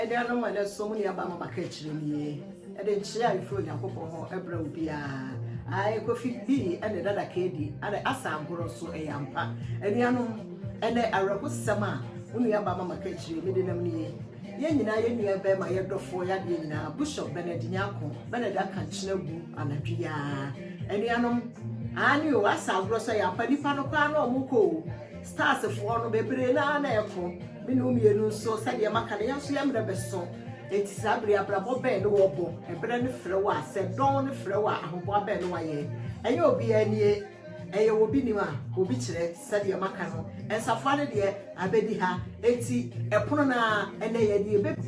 Dɛn na ɔma ne som nneɛma ma baka akyiri nie? Ɛde nkyea a ɛfiri Onyankopɔn hɔ brɛ obiara. Ae, Kofi, Lee, ne Dada Kadi, ne Asa Ankoro nso, ɛyɛ ampa. Anuanom, ɛnnɛ, awerɛhosɛm a wo nuabaa ma maka akyiri yi, mede nam nie. Yɛn nyinaa, yɛn nuabarima, yɛn dɔfoɔ, yɛn adeɛ nyinaa, Bishop Bernard Nyarko, Bernard aka nkyene agu anadwo yi ara. Anuanom, aane o, Asa Ankoro nso, ɛyɛ ampa, nnipa no kɔ ara na wɔkɔ o. Starsfoɔ no bebree no ara na ɛko, me ne wo mmienu nso sɛdeɛ maka no yɛn nso yɛn mmerɛ bɛso, enti saa berɛ yi abrabɔ bɛn ne wɔbɔ? Ɛberɛ no frɛ wo a, sɛ dɔn no frɛ wo a ahoboa bɛn ne wayɛ? Ɛnyɛ obiara nie, ɛyɛ wɔ bi nim a obi kyerɛ, sɛdeɛ maka no nsafoa no deɛ abɛdi ha, enti ɛpono no ara ɛnnɛ yɛde ɛbɛ.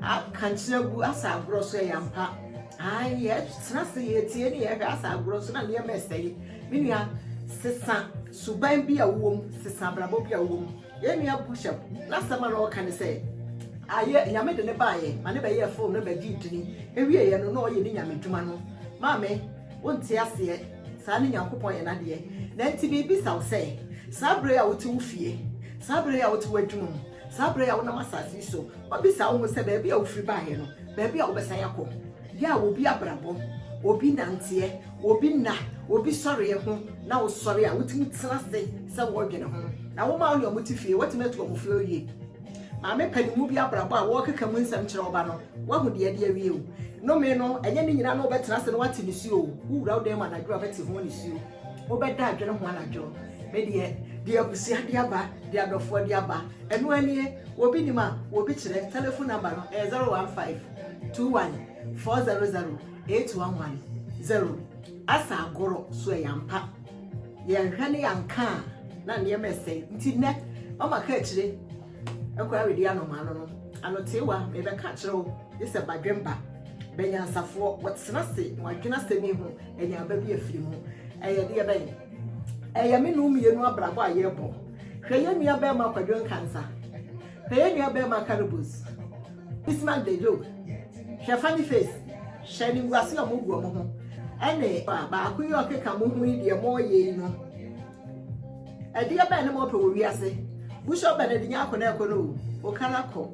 Ka kyerɛ gu asa agorɔ so ɛyɛ ampa ae yɛtena ase yɛtie ne yɛhwɛ asa agorɔ so na nneɛma ɛsɛe me nua sesa suban bi a wowɔ mu sesa abrabɔ bi a wowɔ mu yɛn nua bushap n'asɛm a na ɔka ne sɛ ayɛ nyame de ne baayɛ ma ne bɛyɛ fo na bɛdi dini ewie yɛ no na ɔyɛ ne nyame dwuma no maame wonte aseɛ saa ne nyankopɔn yɛ n'adeɛ na nti biribi sa wo sɛ saa bere a wote wo fie saa bere a wote w'adwuma mu Saa berɛ yi a wonam asase yi so, wɔbisa wo ho sɛ baabi a wofiri baeɛ no, baabi a wobɛsan akɔ. Yɛ a obi abrabɔ, obi nanteɛ, obi nna, obi sɔreɛ ho na wosɔre a, wotumi tena ase sɛ woredwene ho. Na wo mma wo ne wɔn te fie, woatumi atu wɔn fo awie. Maame panin mu bi abrabɔ a wɔrekeka mu nsɛm kyerɛ wo ba no, woahu deɛ ɛde awie o. Nnome no, ɛnyɛ ne nyinaa na wobɛtena ase na woate ne su o. Wowura wo dan mu anadwo a, bɛte ho anisuo. Wobɛda adwene ho anadwo. Me deɛ, deɛ abusua de aba, deɛ adɔfoɔ de aba, ɛno ara nie. Obi nim a, obi kyerɛ. Telephone number no, ɛyɛ 015-21-400-8110. Asa agorɔ, so ɛyɛ ampa? Yɛanhwɛ ne yɛanka a, na nneɛma ɛsɛe. Nti nnɛ, mama ka akyire, ɛkɔ awɛdi anɔmaa no no. Anoteewa, mebɛka akyerɛ wo. Gye sɛ badwemba, banyansafoɔ, wɔtena ase na wɔadwene asɛm yi ho, nneɛma bi afiri mu. Ɛyɛ deɛ bɛn? Ɛyɛ me ne wo mmienu abrabɔ a yɛrebɔ. Hwɛ yɛn nua barima Kwadwo Nkansah. Hwɛ yɛn nua barima Karibos. Bismarck de Joe. Hwɛ funny face. Hwɛ animguase a wɔgu wɔn ho. Ɛne baako yi a ɔkeka mo ho yi deɛ moreyɛ yi no. Ɛdeɛ bɛn ne ma ɔpɛ wɔ wiase? Bishop Bernard Nyarko na ɛkɔ no o, Okana kɔ,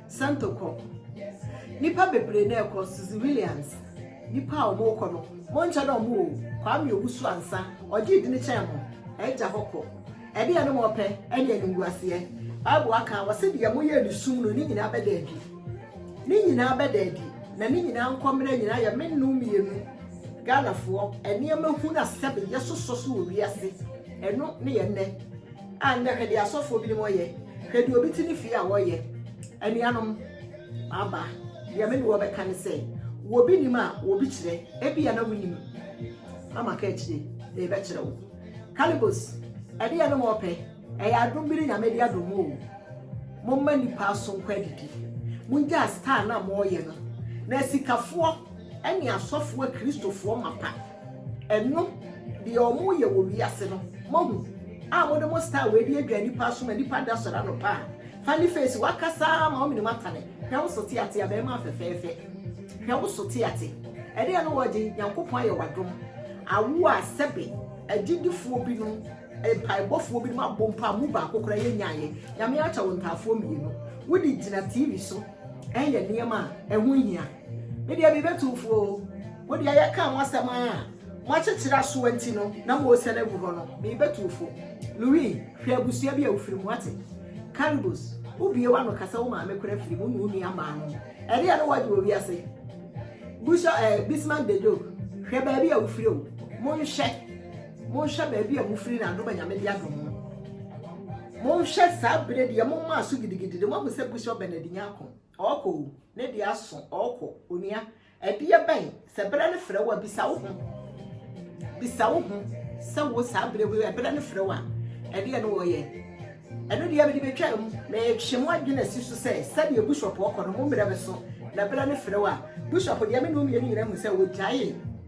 Sento kɔ, nipa bebree na ɛkɔ, Suzy Williams, nipa a wɔn kɔ no, monkyɛ dɛ wɔn o, Kwame Owusu ansa, ɔgye di ne kyɛn mo, ɛgya hɔ kɔ. Ɛdeɛ ne ma ɔpɛ, ɛne animguaseɛ. Bible aka, wɔse deɛ moyɛ ne sum no, ne nyinaa bɛda adi. Ne nyinaa bɛda adi na ne nyinaa nkɔmmena nyinaa yɛ me nom mmienu Ghanafoɔ nneɛma hunu a sɛbe yɛsosɔ so wɔ wiase ɛno ne yɛ nnɛ a nnɛ hwɛ deɛ asɔfoɔ binom ɔyɛ hwɛ deɛ obi te ne fie a ɔyɛ anuanom aba deɛ me ne wɔ bɛka ne sɛ wɔ bi nim a wɔ bi kyerɛ ebi a na wonim na maka akyire na ɛbɛkyerɛ wo Calibos ɛdeɛ no ma ɔpɛ Ɛyɛ adom bi ne Nyame de adom mo oo. Momma nnipa so nkɔ adidi. Mongyaa star no a moyɛ no. Na asikafoɔ ne asɔfoɔ akristofoɔ mapa ɛno deɛ ɔmo yɛ wɔ wiase no moahu a mode mo star wei de adwa nnipa aso ma nnipa da sɔre anɔpa a funny face wakasa ma womenim atane hwɛ wo so te ate abɛɛma afɛfɛɛfɛ hwɛ wo so te ate ɛdeɛ no wɔgye nyankopɔn ayɛ wadom awo a sɛbe agyidifoɔ binom Mpaebɔfoɔ binom abɔ mpo a mu baako koraa yɛnyaeɛ. Nyame akyɛ wo ntaafoɔ mmienu. Wode gyina TV so ɛyɛ nneɛma a ɛho hia. Me deɛ mebɛtu wo fo o. Wo deɛ yɛka ho asɛm a moakyekyere asoɔ nti no na moresɛ no agu hɔ no, mebɛtu wo fo. Louis, hwɛ abusua bi a wofiri mu, woate? Caribous, wobue w'ano ka sɛ wo maame koraa firi mu ne wo nuammaa no. Ɛdeɛn ne woagye wɔ wiase? Busha, eh, Bismarck Dejo, hwɛ baabi a wofiri o. Monhwɛ. Monhwɛ baabi a mofiri na adom a Nyame de adom mo. Monhwɛ saa berɛ deɛ moma aso gidigidi de moahu sɛ Bishop Bernard Nyarko ɔɔkɔ o, ne deɛ aso ɔɔkɔ onua ɛdeɛ bɛn sɛ berɛ no frɛ wo a bisa wo ho bisa wo ho sɛ wo saa berɛ wei ɛberɛ no frɛ wo a ɛdeɛ no wɔyɛ ɛno deɛ mede bɛtwa mu metwe mo adwene asi so sɛ sɛdeɛ Bishop ɔkɔ no mo mmerɛ bɛso na berɛ no frɛ wo a Bishop deɛ me ne wo mmienu nyina hu sɛ wɔgyae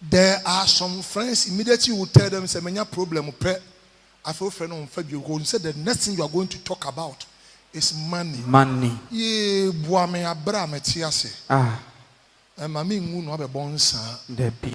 There are some friends immediately wo tell them sɛ manya problem pɛ afei wo frɛ no ɔnfa bio because ɔnim sɛ the next thing you are going to talk about is money. Money. Yee boa me abrɛ a mɛte ase. Ah. Ɛma me nwu no abɛbɔ nsaa. Dabi.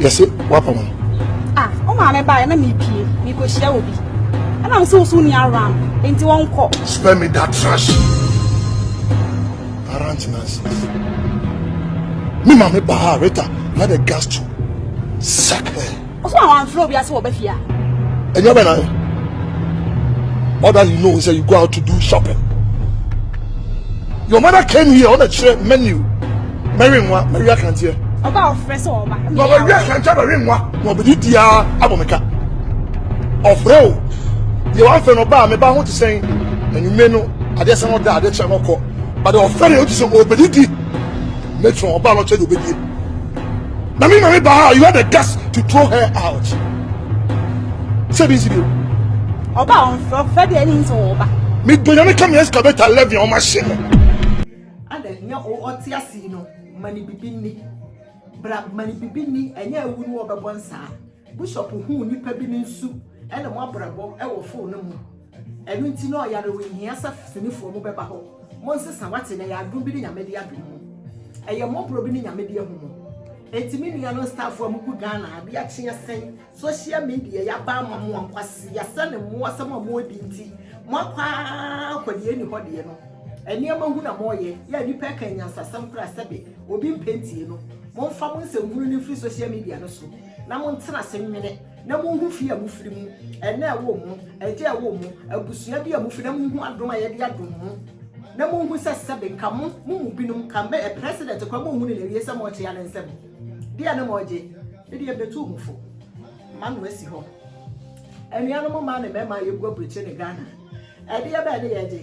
yɛse wapa mu. Ah, o maame ba na mi pie, mi ko hyia obi. Ɛna mse wo so ni aram, enti wɔn kɔ. Spare me that trash. Aranti nonsense. Me maame ba Rita had a gas to suck her. Ɔso na wɔn afro obi ase wɔ bafia. Ɛnyɛ bɛ na. All that you know is that you go out to do shopping. Your mother came here on a menu. Mary nwa, Mary Akanteɛ. Ọba a ɔfrɛ sɛ ɔba. Na Mary Akanteɛ Mary nwa. Na ɔbɛdi di ara abɔ me ka. Ɔfrɛ o, deɛ wamfrɛ no ɔba a meba ho te sɛn. Anwummerɛ no, adeɛ sɛ no da, adeɛ kyɛ no kɔ. But ɔfrɛ no, ɔte sɛ ɔbɛdi di. Matron, ɔba no kyɛ deɛ ɔbɛdie. Na me mame ba ha, you had the guts to throw her out. Sɛ bi nsi bi. Ɔba ɔmfrɛ, ɔfrɛ deɛ ɛne nso ɔba. Me do nyame ka me excavator 11 ɔma hyɛ me. Ada hia o ɔte ase yi no ma ne bibi nni bra ma ne bibi nni ɛnyɛ awu no ɔbɛbɔ nsaa Bishop huu nipa bi ne nsu ɛna mo abrabɔ ɛwɔ foo no mu ɛno nti na ɔyare o nhia sɛ finifoɔ mo bɛba hɔ mo nsesa wate na ɛyɛ adom bi ne nyame de adom mo ɛyɛ mɔborɔ bi ne nyame de ahu mo enti me nua no nstaafoɔ a mo gu Ghana adeɛ akye asɛn Social media yi aba ama mo a nkwaseasɛ ne mmoasɛm a moɔdi nti moakɔ ara kɔ deɛ ɛnni hɔ deɛ no nneɛma hu na moɔyɛ yɛ a nnipa ɛka anyansasɛm koraa sɛbe obi mpɛ ntie no. Momfa mo nsɛm hunu no mfiri social media no so na montena ase nwene na monhu fie a mofiri mu, ɛna a ɛwɔ mu, agya a ɛwɔ mu, abusua bi a mofiri na monhu adom a yɛde adom mo na monhu sɛ sɛbe nka mo mo mu binom nka mɛyɛ president koraa monhunu no awie sɛ moɔkyea ne nsam. Deɛ ne mɔ gye me deɛ mbetu mo fo ma no asi hɔ Anuanom mmaa ne mmarima a yɛgu aburokyire ne Ghana Ɛdeɛ bɛn ne yɛgye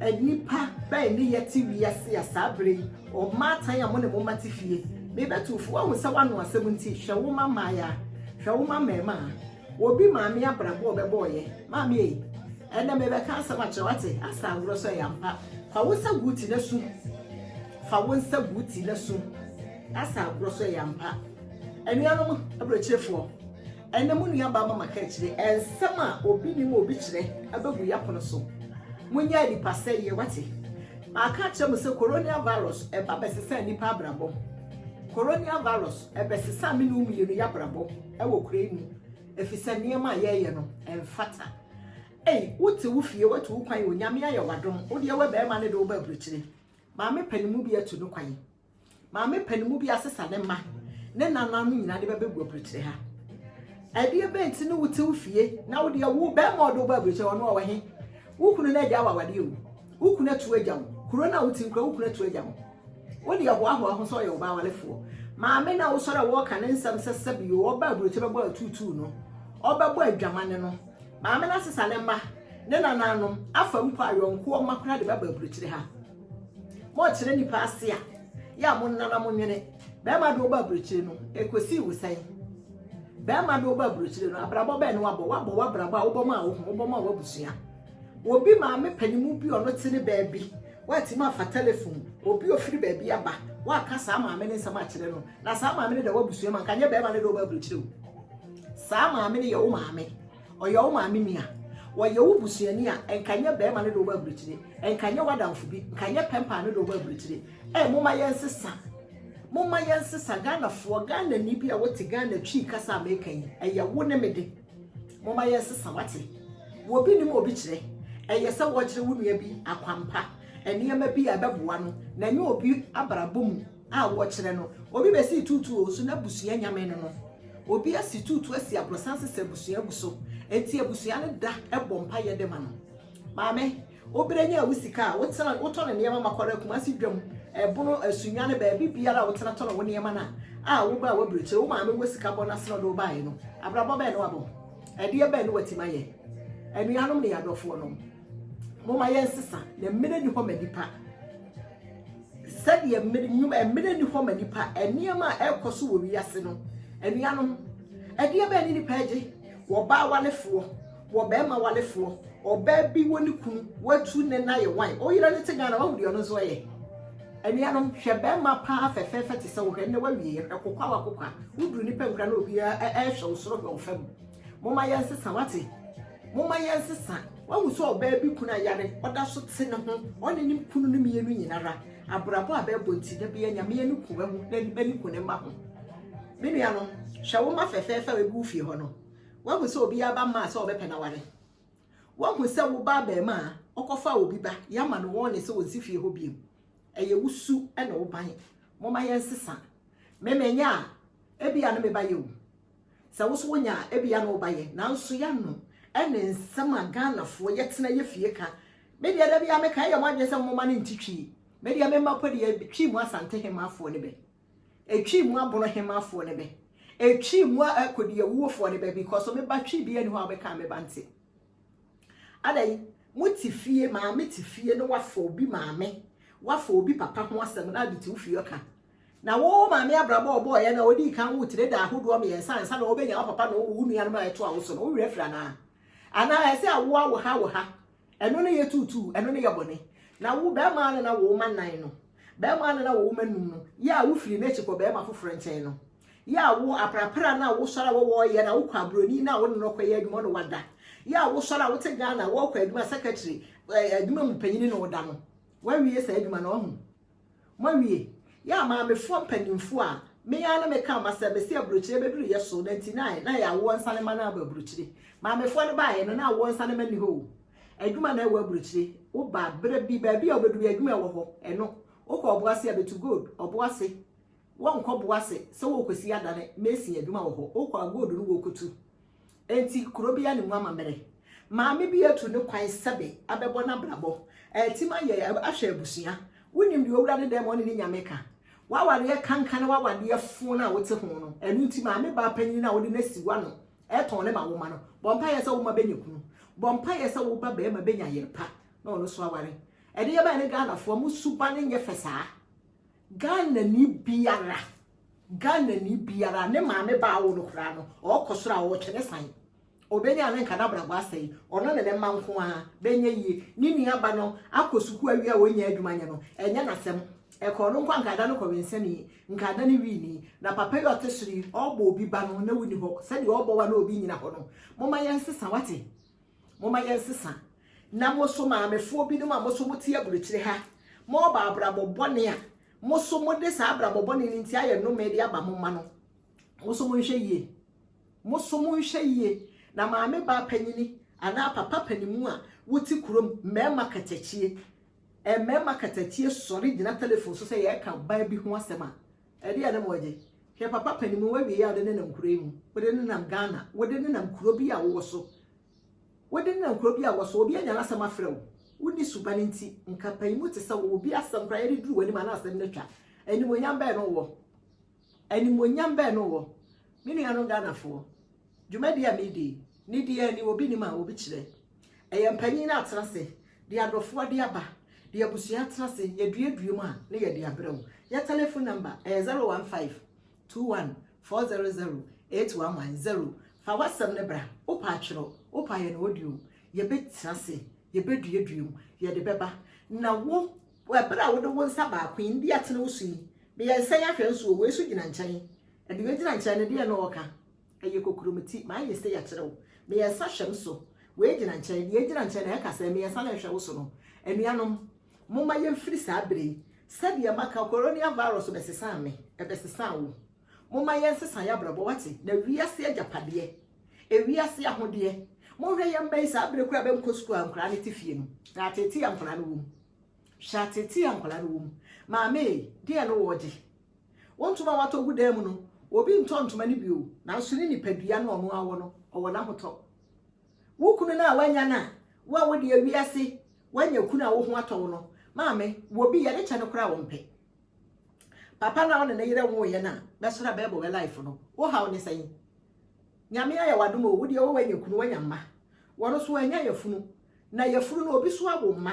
Nnipa bɛn ne yɛte wiase a saa berɛ yi Ɔmaatan a mo ne mo mma te fie Mebetu fo Woahu sɛ woano asɛm nti Hwɛ wo mma mmaayea Hwɛ wo mma mmarima Obi maame abrabɔ a ɔbɛbɔ ɔyɛ. Maame ei, ɛnɛ merebɛka asɛm akyerɛ wo, wate? Asa agorɔ so ɛyɛ ampa. Fa wo nsa gu wo ti na su. Fa wo nsa gu wo ti na su. Asa agorɔ so ɛyɛ ampa. Anuanom aburokyerefoɔ, ɛnɛ mo nua baa ma maka akyire, ɛnsɛm a obi nim a obi kyerɛ abɛgu yapono so. Monyɛ nipa sɛeɛ, wate? Maka akyerɛ mo sɛ Coronial Virus ɛba bɛsesaa nipa abrabɔ. Coronial Virus ɛbɛsesaa me ne wo mmienu y'abrabɔ. wɔ kuro yi mu efisɛ nneɛma a yɛyɛ no ɛnfata ei wote wo fie watu wo kwan onyame ayɛ wadom wodeɛ wɛ bɛrima ne de wo ba aburukyire maame panimu bi atu no kwan maame panimu bi asesa ne mma ne nana no nyinaa de bɛbɛgu aburukyire ha ɛdeɛ bɛn ti ne wote wo fie na wodeɛ wo bɛrima ɔde wo ba aburukyire ɔno ɔwɔ he wo kunu no agya awawadeɛ o Wo kunu atu agya wo. Kuro no a wote mu koraa, wo kunu atu agya wo. Wode ahoahoa ho sɛ ɔyɛ wo ba awarefoɔ. Maame na wosɔre a wɔreka ne nsɛm sɛ sɛbio ɔba aburokyɛ bɛbɔ atuutuu no, ɔbɛbɔ adwamane no. Maame no asesa ne mma, ne nananom, afa mpo a yɔnkoɔ mma koraa de bɛba aburokyire ha. Mokyerɛ nnipa ase a, yɛ a monna na monwene. Bɛrima de woba aburokyire no, ɛkɔsii wo sɛn? Bɛrima de woba aburokyire no, abrabɔ bɛn na wabɔ? Wabɔ w'abrabɔ a wobɔ maa wo ho, wobɔ maa w'abusua. Obi maame panimu bi ɔno te ne baabi, watumi afa telefon, obi a ofiri baabi aba, waka saa maame no nsɛm akyerɛ no, na saa maame no da w'abusua mu, anka nyɛ bɛrima no de wo ba aburokyire o. Saa maame no yɛ wo maame, ɔyɛ wo maame nua, wɔyɛ wo busuani a, anka nyɛ bɛrima no de wo ba aburokyire, anka nyɛ w'adamfo bi, anka nyɛ pɛmpaa no de wo ba aburokyire. Ɛ, moma yɛn sesa. Moma yɛn sesa, Ghanafoɔ, Ghanani bi a wote Ghana Twi kasa a meka yi, ɛyɛ wo ne me de. Momma yɛnsesa, wate? Obi nim obi kyerɛ. Ɛyɛ sɛ wɔkyerɛ wo nua bi akwampa, nneɛma bi a ɛbɛboa no, na ɛnyɛ obi abrabɔ mu a wɔkyerɛ no. Obi bɛsi tuutu o, so n'abusua nyame no no? Obi asi tuutu asi aborosan sesɛ abusua gu so, enti abusua no da bɔ mpaeɛ de ma no. Maame. Wobɛnya wo sika a wotena wotɔ no nneɛma ma kɔra Kumasi dwam, ɛbono, asunya ne baabi biara a wotena tɔ no wo nneɛma no a, a wobaa w'aburokyire, wo maame wɔ sika bɔ no ase na ɔde wo baeɛ no, abrabɔ bɛn na wabɔ? Ɛdeɛ bɛn na watim ayɛ? Anuanom ne yɛn adɔfoɔ nom, momma yɛnsesa, na mmerɛ nni hɔ ma nnipa. Sɛdeɛ mmerɛ, nnwuma, mmerɛ nni hɔ ma nnipa, nneɛma a ɛrekɔ so wɔ wiase no, anuanom, ɛdeɛ bɛn ne nnipa agye? Wɔbaa walefoɔ. wɔ bɛɛma walefoɔ ɔbaa bi wɔ ne kunu watu ne na yɛ wan oyere ne te Ghana wahu deɛ ɔno nso ɛyɛ anuanom hwɛ bɛɛma paa fɛfɛɛfɛ te sɛ wohwɛ ne wawie hwɛ kokwa wa kokwa woduru nipa nkura na obi ɛhwɛ wo soro hwɛ wo fam moma yɛn sesa wate moma yɛn sesa wahu sɛ ɔbaa bi kunu ayare ɔda so te ne ho ɔne ne kunu no mmienu nyinara abrabɔ a bɛɛbɔ nti da bia nyameɛ ne ku wahu na ne ba ne ku ne mma ho me nuanom hwɛ wo ma fɛfɛɛfɛ a ebi wo fie hɔ no Wahu sɛ obiara ba mmaa sɛ ɔbɛpɛ no aware. Wahu sɛ wo ba abarimaa ɔkɔfaa obi ba, yɛama no wɔɔne sɛ ɔnsi fie hɔ biom. Ɛyɛ wo su ne wo ban. Momma yɛnsesa. Me manya a, ebia ne me ba yɛ o. Sɛ wo nso wonya a, ebia ne wo ba yɛ. Nanso yɛano ne nsɛm a Ghanafoɔ yɛtena yɛ fie ka. Me deɛ da biara meka, ɛyɛ mo adwene sɛ momma no nte twi. Me deɛ me mma mpo deɛ twi mu Asantehemaafoɔ ne bɛ. Etwii mu aboro hema foɔ no bɛ. Etwii mu a ɛkɔ di awuo foɔ no bɛ because ɔme ba twi bia ni hɔ a ɔbɛka me ba nte. Adai mo te fie maame te fie no wafa obi maame wafa obi papa ho asɛm na ade te wo fie ɔka. Na wo maame abrabɔ ɔbɔɔ yɛ na ɔdii kan wo tire da ahodoɔ mmiɛnsa ansa na ɔbɛnya wo papa na ɔwɔ wo nuanom a ɛtoa wo so no wo werɛ afiri anaa? Anaa ɛsɛ awoa wo ha wo ha Ɛno ne yɛ tuutuu, ɛno ne yɛ bɔne. Na wo, barima a na na wowoma nnan no, barima a na na wowoma num no, yɛ a wofiri n'akyi kɔ barima foforɔ nkyɛn no, yɛ a wo, aprapra a na wosɔre a wɔwɔ yɛ na wokɔ aburoni no a wo ne no kɔyɛ adwuma ɔne wada, yɛ a wosɔre a wote Ghana wɔkɔ adwuma secretary, ɛɛ, adwuma mu panyini ne woda no, woawie saa adwuma no, wahu. Moawie? Yɛ a maamefoɔ mpaninfoɔ a me ara ne me kaa ma sɛ bɛsi aburokyire bɛduru yɛ so, na nti na ayɛ na ɛyɛ awoɔ nsanema no aba aburokyire. Maamefoɔ no baeɛ no na awoɔ nsanema nni hɔ o. Adwuma na ɛwɔ aburokyire. Wo ba berɛ bi baabi a ɔbɛduru adwuma ɛwɔ hɔ, ɛno. Wo kɔ ɔboase a bɛtu gold, ɔboase. Wɔnkɔ boase sɛ wɔrekɔsi adane, mason adwuma wɔ hɔ. Wo kɔ a gold no wɔkɔtu. Enti kuro bi anim amammerɛ. Maame bi atu ne kwan sɛbe abɛbɔ n'abrabɔ. Ɛretim ayɛ ahwɛ abusua. Wonim deɛ owura ne dan mu ɔne ne nyame ka. W'awadeɛ kanka ne w'awadeɛ fo no a wote ho no. Ɛno nti maame baa panyin no a wode no asi w'ano ɛtɔn ne ma wo mma no. Bɔ mpaeɛ sɛ wo mma bɛnya kunu. Bɔ mpaeɛ sɛ wo ba barima bɛnya yere pa na ɔno nso aware. Ɛdeɛ bɛn ne Ghanafoɔ, mo suban nyɛ fɛ saa. Ghanani biara, Ghanani biara, ne maame ba awo no koraa no, ɔkɔ soro a ɔretwɛ ne san. Ɔbɛnya a ne nka n'abrabɔ asɛe. Ɔno ne ne mma nko ara bɛnya yie. Ne nua ba no akɔ sukuu awie a ɔnnya adwuma nyɛ no, ɛnyɛ n'asɛm. Ɛka ɔno nko a, nka ada no kɔwensani, nka ada no wini. Na papa yi a ɔte soro yi, ɔbɔ obi ba no, na wonni hɔ. Sɛdeɛ ɔbɔ wo a na obi nnyina hɔ no, momma yɛnsesa, woate? Momma yɛnsesa na mo so maamefoɔ binom a mo so mote aburokyire ha, morebɔ abrabɔ bɔne a mo so mode saa abrabɔ bɔne no nti ayɛ nnome de aba mo mma no, mo so monhwɛ yie. Mo so monhwɛ yie na maame baa panyini anaa papa panimu a wote kurom, mmarima katakyie, mmarima katakyie sɔre gyina telefon so sɛ yɛreka baa bi ho asɛm a, Ɛdeɛn ne moregye? Hwɛ papa panin woawie a wode nenam kuro yi mu, wode nenam Ghana, wode nenam kuro bi a wowɔ so, wode nenam kuro bi a wowɔ so, obi anya n'asɛm afrɛ wo, wonni suban nti, nka panin mu te sɛ wo, obi asɛm koraa yɛde duru w'anim a na asɛm no atwa. Animuonyam bɛn na wowɔ? Animuonyam bɛn na wowɔ? Me nuanom Ghanafoɔ, Dwumadi a meredi yi, ne deɛ ani obi nnim a obi kyerɛ. Ɛyɛ mpanyin no atena ase de adɔfoɔ de aba, de abusua atena ase, yɛduadua mu a na yɛde abrɛ wo. Yɛ telefon nɔmba ɛyɛ 015-21-400-811, zero. Fa w'asɛm no bra, wopɛ a twerɛ, wopɛ a yɛ no audio. Yɛbɛtena ase, yɛbɛduadua mu, yɛde bɛba. Na wo, ɛberɛ a wode wo nsa baako yi, mede atene wo so yi, meyɛ nsɛn ahwɛ nso o, wei nso gyina nkyɛn. Deɛ ɔgyina nkyɛn no, deɛn na ɔreka? Ɛyɛ kokuromiti. M'ayɛ sei akyerɛ wo. Meyɛ nsa hwɛ me so. Wei gyina nkyɛn, deɛ ɛgyina nkyɛn na ɛka sɛ meyɛ nsa na ɛhwɛ wo so no. Anuanom, momma yɛmfiri saa berɛ yi. Sɛdeɛ maka, Coronial Virus bɛsesaa me, ɛbɛsesaa wo. Momma yɛnsesa yɛn abrabɔ, woate? Na wiase agyapadeɛ, ewiase ahodeɛ. Monhwɛ yɛn mma yi, saa berɛ koraa a bɛnkɔ sukuu a nkwadaa no te fie no, na ateetee a nkwadaa no wɔ mu. Hwɛ ateetee a nkwadaa no wɔ mu. Maame ei, deɛn na wɔregye? Wo ntoma a woatɔ gu dan mu no, obi ntɔ ntoma no bio, nanso ne nipadua no a ɔno ara wɔ no, ɔwɔ n'ahotɔ. Wo kunu no a woanya no a, wo a wode awi ase, woanya kunu a wo ho atɔ wo no, maame, wɔ bi, yɛde kyɛ no koraa a ɔmpɛ. Papa no a wo ne ne yere nwoeɛ no a, bɛsɔre a bɛrebɔ wɛ life no, wo haw ne sɛn? Nyame ayɛ w'adom o, wo deɛ wo woanya kunu, woanya mma. Wɔno nso, wɔanya yafunu, na yafunu no, obi nso awo mma.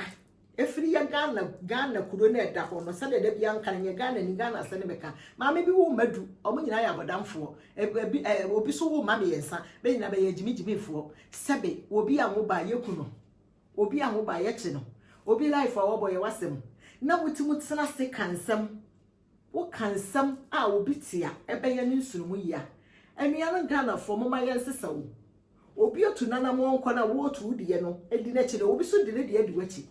Ɛfiri yɛ Ghana, Ghana kuro no a ɛda hɔ no, sɛdeɛ da biara meka no, nyɛ Ghanani, Ghana asɛm na meka. Maame bi wo mma du, wɔn nyinaa yɛ abɔdamfoɔ. Ɛbi, ɛ, obi nso wo mma mmiɛnsa, bɛ nyinaa bɛyɛ agyimigyimifoɔ. Sɛbe, obi anwo ba a, yɛku no. Obi anwo ba a, yɛkye no. Obi life a ɔbɔ yɛ w'asɛm. Na motumi tena ase ka nsɛm Woka nsɛm a obi te a ɛbɛyɛ ne nsonomu yi a, anuanom Ghanafoɔ momma yɛnsesa o. Obi atu n'anammɔn nkɔ no a woretu wo deɛ no di n'akyi na obi nso de ne deɛ adi w'akyi.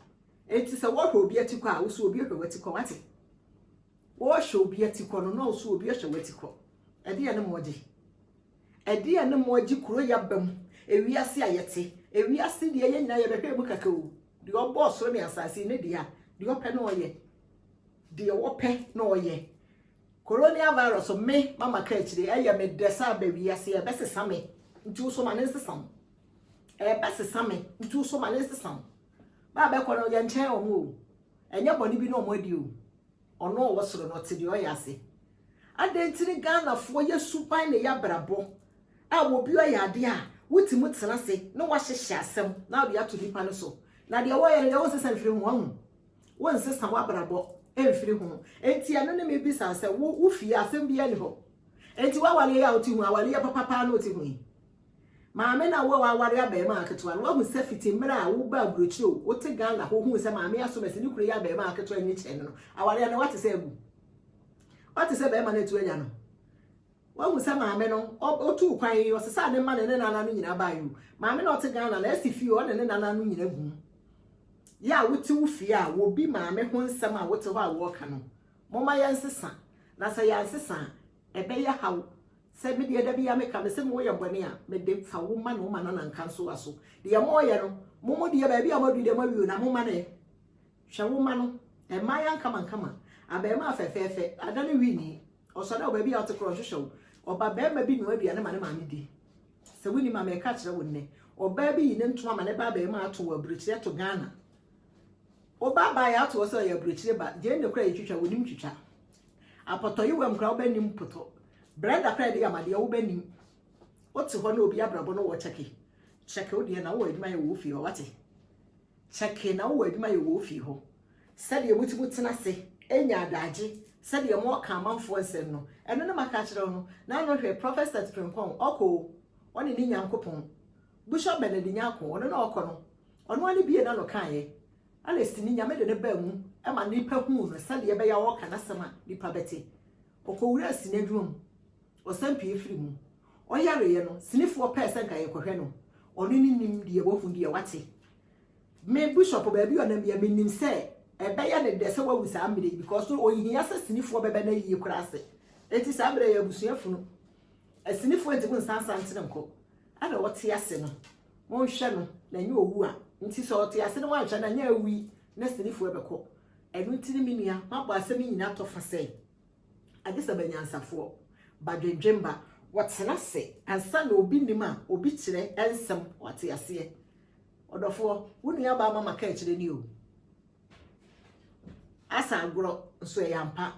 Enti sɛ wɔrehwɛ obi atikɔ a, wo nso obi hwɛ w'atikɔ, woate? Wɔrehwɛ obi atikɔ no na wo nso obi hwɛ w'atikɔ. Ɛdeɛn ne moagye? Ɛdeɛn ne moagye kuro yi aba mu, ewiase a yɛte? Ewiase deɛ yɛn nyinaa yɛbɛhwɛ mu kɛkɛ o. Deɛ ɔbɔɔ soro ne asase yi ne dea, deɛ ɔpɛ na ɔyɛ. Deɛ wɔpɛ na wɔyɛ. Coronial virus me mama ka akyire ɛyɛ me dɛ sɛ aba wiase ɛbɛsesa me nti wo so ma ne nsesa wo ɛbɛsesa me nti wo so ma ne nsesa wo baa bɛkɔ no yɛnkyɛn wɔn o ɛnyɛ bɔne bi na wɔn adi o ɔno ɔwɔ soro no ɔte deɛ ɔyɛ ase adɛn nti ne Ghanafoɔ yɛ suban ne yɛ abrabɔ a obi ɔyɛ adeɛ a wotumi tena ase na wahyehyɛ asɛm na wode ato nipa no so na deɛ wɔyɛ no deɛ wonsesa mfiri ho ahu Wonsesa w'abrabɔ mfiri ho. Enti ɛno ne mebisaa sɛ wo wo fie asɛm biara ni hɔ. Enti w'awareɛ yi a wote ho awareɛ papa paa na wote ho yi. Maame na wo a w'aware abɛɛma aketewa no wahu sɛ fiti mmerɛ a wo ba aburokyire o wote Ghana ho hu sɛ maame asomɛsi ne kunu yɛ abɛɛma aketewa nyi kyɛn no no awareɛ no wate sɛ agu. Wate sɛ bɛɛma no atu anya no. Wahu sɛ maame no ɔtuu kwan yi, ɔsesaa ne mma ne ne nana no nyina baeɛ o. Maame na ɔte Ghana na asi fie ɔne ne nana no nyina gu mu. Yɛ a wote wo fie a wobi maame ho nsɛm a wote hɔ a wɔɔka no, momma yɛnsesa na sɛ yɛansesa a ɛbɛyɛ haw. Sɛ me deɛ da biaa meka, mese mo woyɛ bɔne a, mede fa wo ma na wo ma nana nka nsowa so. Deɛ moɔyɛ no, mo mo deɛ baabi a moaduru deɛ moawie o na mo ma no ɛ. Hwɛ wo ma no, mmaayɛ ankamankaman, abarimaa fɛfɛɛfɛ, adane Winnie. Ɔsɔ dɛ wɔ baabi a ɔtse korɔ nhwehwɛ wo. Ɔba barima bi noa aduane ma ne maame di. Sɛ wonnim a, mereka akyerɛ wo nnɛ. Ɔbaa bi yi ne ntoma ma ne ba abaamua ato wɔ aburokyire ɛto Ghana. Wo ba baa yɛato wɔ sɛ ɔyɛ aburokyire ba. Gyeene koraa yɛtwitwa, wonim twitwa. Apɔtɔyewam koraa woba nnim potɔ. Brɛda koraa yɛde yam adeɛ woba nnim. Wote hɔ na obi abrabɔ no wɔ kyɛke. Kyɛke wo deɛ na wowɔ adwuma yɛ wɔ wo fie hɔ, wate? Kyɛke na wowɔ adwuma yɛ wɔ wo fie hɔ, sɛdeɛ motumi tena ase nya adagye sɛdeɛ moɔka amanfoɔ nsɛm no, ɛno ne maka akyerɛ wo no, na ano hwɛ Prɔfɛsɛt Frimpong ɔkɔ o, ɔne ne Nyankopɔn. Bushɔp Bɛnɛdi Nyarko, ɔno na ɔɔkɔ no, ɔno ara ne biee n'ano kaeɛ, Alestini, Nyame de no baa mu ma nnipa huu no sɛdeɛ ɛbɛyɛ a ɔɔka n'asɛm a nnipa bɛte. Ɔkɔwuraa sini adwuma mu, Ɔsan pue firi mu. Ɔyareɛ no, sinifoɔ pɛɛ sɛ nka yɛkɔhwɛ no. Ɔno ne nim deɛ wahu deɛ wate. Me Bishop baabi a ɔnam biara menim sɛ ɛbɛyɛ no dɛ sɛ wawu saa mmerɛ yi because no ɔnhia sɛ sinifoɔ bɛbɛ no ayie koraa ase. Enti saa mmerɛ yi abusua funu. Asinifoɔ nti mo nsan san tene nkɔ. Ɛna ɔte ase no monhwɛ no na ɛnyɛ ɔwu a. Nti sɛ ɔte ase na wanhwɛ no a ɛnyɛ awu yi na sinifoɔ bɛkɔ. Ɛno nti ne me nua mabɔ asɛm yi nyina atɔ fa sɛ. Adesɛm Anyansafoɔ ba dwendwen ba. Wɔtena ase ansa na obi nim a obi kyerɛ nsɛm wate aseɛ ɔdɔfoɔ wo nua baa mama ka akyire ni o asa agorɔ nso ɛyɛ ampa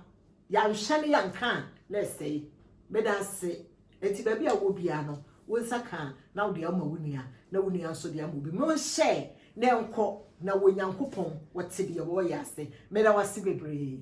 yanhwɛ ne yanka a na ɛsɛe meda ase Enti baabi a wowɔ biara no, wo nsa ka a, na wode ama wo nua, na wo nua nso de ama obi. Monhyɛ no nkɔ, na wɔ Nyankopɔn, Ɔte deɛ wɔreyɛ ase. Meda wo ase bebree.